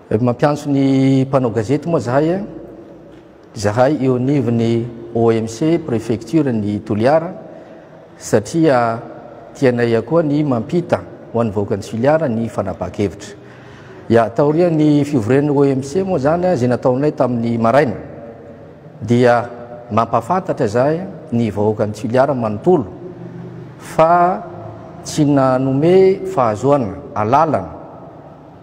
Rehefa mampiantso ny mpanao gazety moa zahay, zahay eo anivon'ny OMC préfecture ny Toliara satria tianay akoa ny mampita ho an'ny vahoakan'i Toliara ny fanabakevitra. Ya taorian'ny fivorian'ny OMC moa zany izay nataonay tamin'ny maraina dia mampafantatra zahay ny vahoakan'i Toliara manontolo fa tsy nanome fahazoana alalana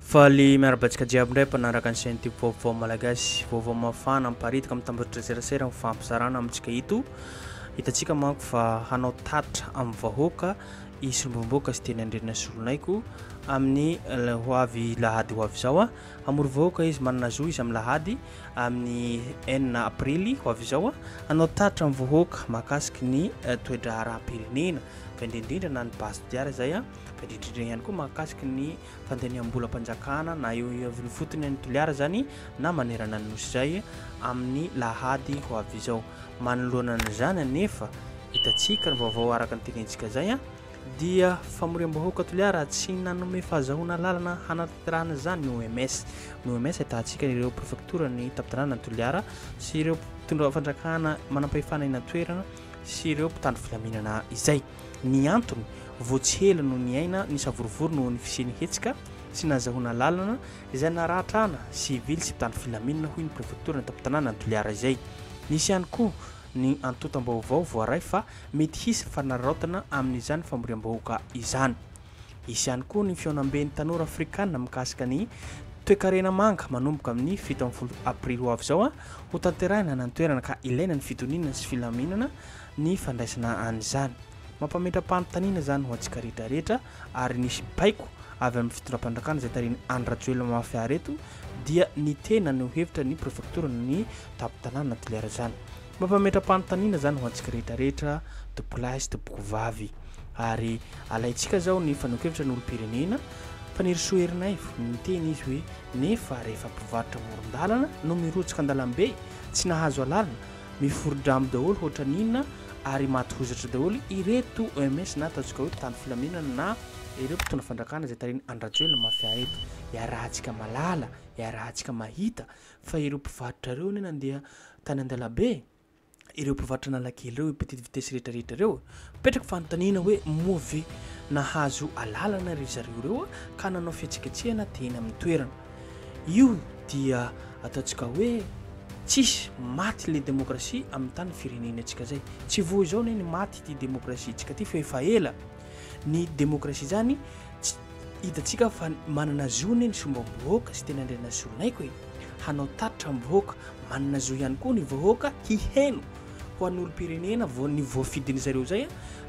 Faly miarahaba antsika jiaby indray mpanaraka ny chaîne tube vaovao malagasy. Vaovao mafana miparitaka amin'ny tambajotra serasera ny fampizarana amintsika ito. Hitantsika manko fa hanao tatitra amin'ny vahoaka i Solombavambahoaka sy Teny Andrena Solonaiko amin'ny ho avy lahady ho avy izao. Hamory vahoaka izy manana zo izy amin'ny lahady amin'ny enina aprily ho avy izao. Hanao tatitra amin'ny vahoaka mahakasiky ny eh, toedraharaham-pirenena fa indrindrindra na ny base de diara izay. Tadididrindrina ihany koa mahakasika ny fandaniam-bolam-panjakana na eo iaviny fotony any Toliara izany na manerana ny Nosy izay amin'ny lahady ho avy izao. Manoloana an'izany anefa, hitantsika ny vaovao araka ny tenentsika izay dia famoriam-bahoaka Toliara tsy nanome fahazahoana lalana hanatanterahana izany ny OMS. Ny OMS ahitantsika ireo prefektora ny tampon-tanànan'i Toliara sy ireo mpitondra fandrakana manampahefana eny an-toerana sy ireo mpitandro filaminana izay. Ny antony, vao tsy ela no niaina ny savorovoro noho ny fisian'ny hetsika sy nahazahoana alalana izay naratrana sivily sy mpitandro filaminana, hoy ny prefektora an-tampon-tanànan'i Toliara izay. Nisy ihany koa ny antontam-baovao voaray fa mety hisy fanararaotana amin'izany famoriam-bahoaka izany. Hisy ihany koa ny fihaonamben'ny tanora afrikana mikasika ny toekarena manga manomboka amin'ny fito ambin'ny folo aprily ho avy izao hotanterahina any an-toerana ka ilaina ny fitoniana sy filaminana ny fandraisana an'izany. Mampametra-panontaniana izany ho antsika rehetra rehetra ary nisy baiko avy amin'ny fitondram-panjakana izay tarihin'i Andry Rajoelina mafy àry eto dia ny tena no hevitra ny prefektora na ny tampon-tanàna na toliara izany. Mampametra-panontaniana izany ho antsika rehetra rehetra tompolahy sy tompokovavy ary alaintsika izao ny fanehoan-kevitra ny olom-pirenena, Fanirisoa Ernaivo, niteny izy hoe nefa rehefa mpivarotra amoron-dalana no mirotsaka an-dalambe tsy nahazo alalana Miforidramo daholo hoatran'ny inona ary maty hozatra daholo ireto OMS na ataontsika hoe mpitandro filaminana na ireo mpitondra fandrakana izay tarihin'i Andry Rajoelina mafia reto. Iarahantsika malala, iarahantsika mahita fa ireo mpivarotra ireo anie nandeha tany an-dalabe, ireo mpivarotra Analakely ireo, ireo petite vitesse rehetrarehetra ireo. Mipetraka fanontaniana hoe moa ve nahazo alalana ry zareo ireo ka nanao fihetsiketsehana teny amin'ny toerana. Io dia ataontsika hoe tsisy maty le demokrasia amin'ny tany firenena antsika zay. Tsy vao izao anie ny maty ity demokrasia antsika ity fa efa ela. Ny demokrasia zany tsy hitantsika fa manana zo anie ny sombam-bahoaka sy tena andriana solonaiko e! hanao tatitra amin'ny vahoaka. Manana zo ihany koa ny vahoaka hiheno ho an'olom-pirenena vao ny voafidiny zareo zay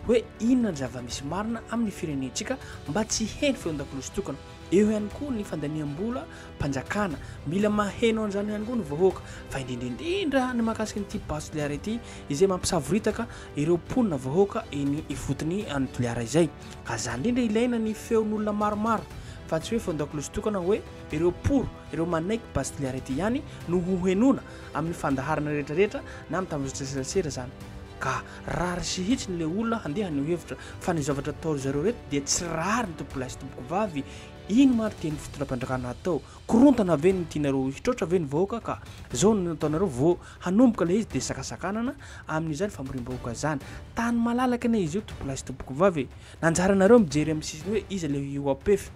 hoe inona ny zava-misy marina amin'ny firenentsika mba tsy heno feon-dakolosy tokana. Eo ihany koa ny fandaniam-bola mpanjakana. Mila maheno an'izany ihany koa ny vahoaka, fa indrindra indrindra ny mahakasika an'ity Base Toliara ity, izay mampisavoritaka ireo mponina vahoaka eny ifotony any Toliara izay. Ka izany indrindra ilaina ny feon'olona maromaro, fa tsy hoe feon-dakolosy tokana hoe ireo pour, ireo manaiky Base Toliara ity ihany no hohenoina amin'ny fandaharana rehetra rehetra na amin'ny tambajotran-tserasera izany. Ka. Rariny sy hitsiny ilay olona handeha haneho hevitra fa ny zavatra atao ry zareo ireto dia tsy rariny tompolahy sy tompokovavy, inona ary tian'ny fitondram-panjakana hatao? Korontana ve no tianareo hitroatra ve ny vahoaka ka zao no nataonareo vao hanomboka ilay izy dia sakasakanana amin'izany famoriam-bahoaka izany? Tany malalaka anie izy io tompolahy sy tompokovavy e! Nanjaranareo mijery amin'ny sisiny hoe iza ilay io APF?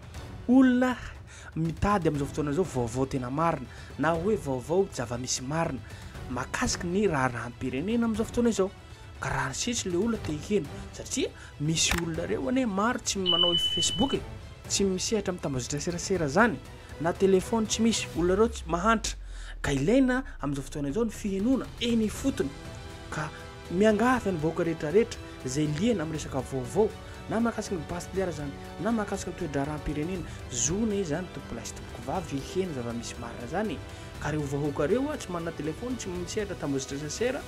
Olona Mitady amin'izao fotoana izao vaovao tena marina na hoe vaovao zava-misy marina mahakasika ny raharaham-pirenena amin'izao fotoana izao. Ka raha ny sisa ilay olona te hiheno satria misy olona ireo anie maro tsy manao Facebook e, tsy misehatra amin'ny tambazotra serasera izany na telefaony tsy misy, olona ireo tsy mahantra ka ilaina amin'izao fotoana izao ny fihenoana eny ifotony ka miangavy ny vahoaka rehetra rehetra izay liana amin'ny resaka vaovao na mahakasika ny base toliara izany na mahakasika ny toe-draharaham-pirenena zona izy izany tompoko lahy sy tompoko vavy heno zava-misy marina izany ka ireo vahoaka ireo a tsy manana telefona tsy misehatra tambozitrasasera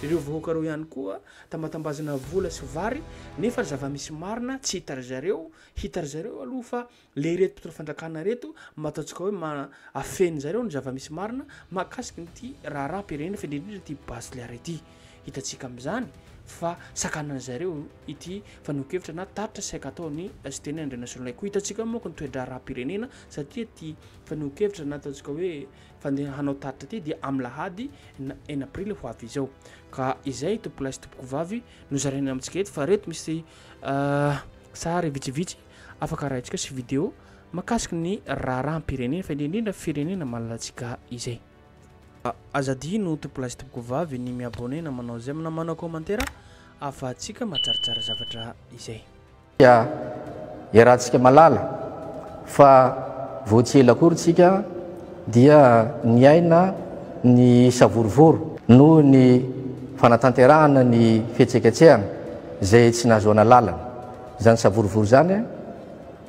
ireo vahoaka ireo ihany koa tambatambazana vola sy vary nefa zava-misy marina tsy hita ry zareo hita ry zareo aloha fa le ireto mpitondra fandrakana ireto mba ataontsika hoe ma afeniny zareo ny zava-misy marina mahakasika an'ity raharaham-pirenena fa indrindra indrindra ity Bazliara ity. Hitantsika amin'izany fa sakanan'ny zareo ity fanehoan-kevitra na tatitra saika ataon'i Siteny Andrianasolonahy koa. Hitantsika ao manko ny toe-draharaham-pirenena satria ity fanehoan-kevitra na ataontsika hoe fandeha hanao tatitra ity dia amin'ny lahady na- enina aprily ho avy izao. Ka izay tompolahy sy tompokovavy nozaraina amintsika eto fa ireto misy ah, sary vitsivitsy Afaka arahintsika sy video makasiky ny raharaham-pirenena fa indrindra firenena malalantsika izay. Aza adino tompo lahy sy tompoko vavy ny mi abonner na manao j'aime na manao commentaire afahantsika mahatsaratsara zavatra izay. Dia iarahantsika malala fa vao tsy ela akory tsika dia niaina ny savorovoro noho ny fanatanterahana ny fihetseketsehana izay tsy nahazoana lalana. Izany savorovoro izany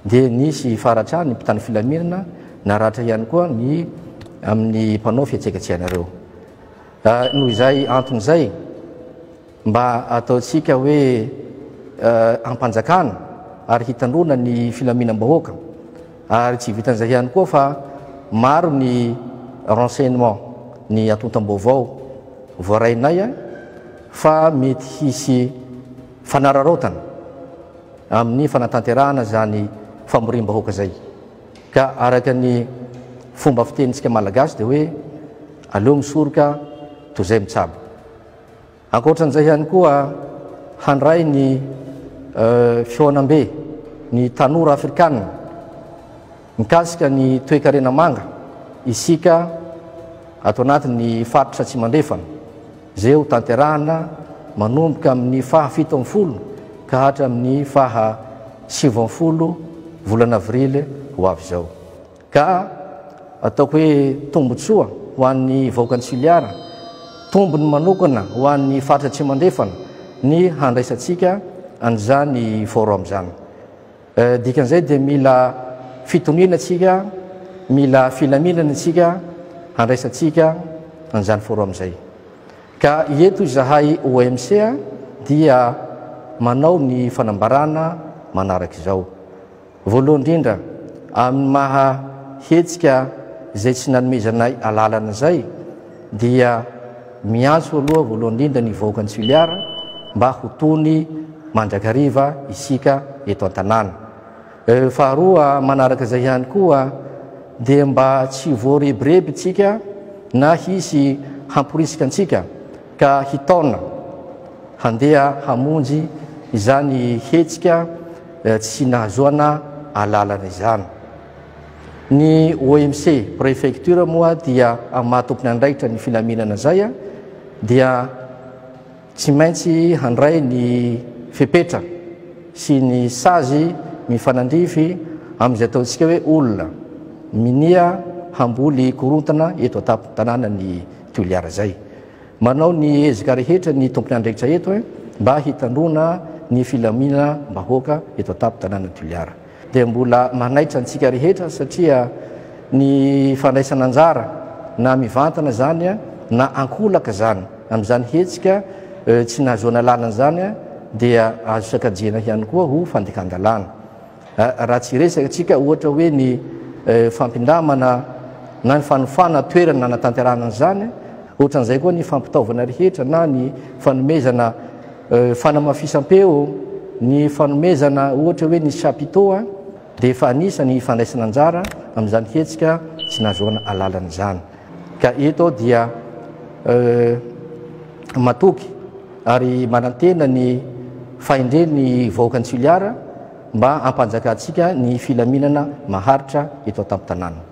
dia nisy faratra ny mpitandro filaminana naratra ihany koa ny amin'ny mpanao fihetsegetsehanareo. Noho izay antony izay, mba ataontsika hoe ampanjakana ary hitandroana ny filaminam-bahoaka ary tsy vitan'izay ihany koa fa maro ny renseignement, ny antontam-baovao voarainay fa mety hisy. fanararaotana amin'ny fanatanterahana izany famoriam-bahoaka izay. Ka araka ny fomba fitenintsika Malagasy dia hoe aleo misoroka toy izay mitsabo. Ankoatran'izay ihany koa handray ny fihaonambe ny tanora afrikana. Mikasika ny toekarena manga, isika ato anatin'ny Faritra Atsimandrefana, izay ho tanterahana manomboka amin'ny faha fito ambin'ny folo ka hatramin'ny faha sivy ambin'ny folo volana avrily ho avy izao, ka ataoko hoe tombontsoa ho an'ny vahoakan'i Toliara, tombony manokana ho an'ny Faritra Atsimandrefana ny handraisantsika an'izany Forum izany. Dikan'izay dia mila fitoniana isika, mila filaminana isika handraisantsika an'izany forum izay. Ka eto izahay OMC dia manao ny fanambarana manaraka izao. Voalohany indrindra, amin'ny maha hetsika izay tsy nanomezanay alalana izay, dia miantso aloha voalohany indrindra ny vahoaka ny Suliara mba ho tony mandrakariva isika eto an-tanàna. Faharoa manaraka izay ihany koa dia mba tsy voarebireby tsika na hisy hamporisika antsika ka hitaona handeha hamonjy izany hetsika tsy nahazoana alalana izany. Ny OMC prefecture moa dia amin'ny maha tompon'andraikitra ny filaminana izay dia tsy maintsy handray ny fepetra sy ny sazy mifanandrify amin'izay ataontsika hoe olona minia hamboly korontana eto an-tampon-tanànan'i Toliara izay. Manao ny ezaka rehetra ny tompon'andraikitra eto mba hitandroana ny filaminam-bahoaka eto an-tampon-tanànan'i Toliara. dia mbola manaitra antsika rehetra satria ny fandraisana anjara na mivantana izany na ankolaka izany amin'izany hetsika tsy nahazoana lalana izany dia azo sakajiana ihany koa ho fandikan-dalàna raha tsy resaka antsika ohatra hoe ny fampindamana na ny fanofana toerana nanatanterahana an'izany ohatran'izay koa ny fampitaovana rehetra na ny fanomezana Fanamafisam-peo, Ny fanomezana ohatra hoe ny chapiteau dia efa anisan'ny hifandraisana anjara amin'izany hetsika tsy nahazoana alalana izany. Ka eto aho dia matoky ary manantena ny fahendren'ny vahoakan'i Toliara mba hampanjakantsika ny filaminana maharitra eto an-tampon-tanàna.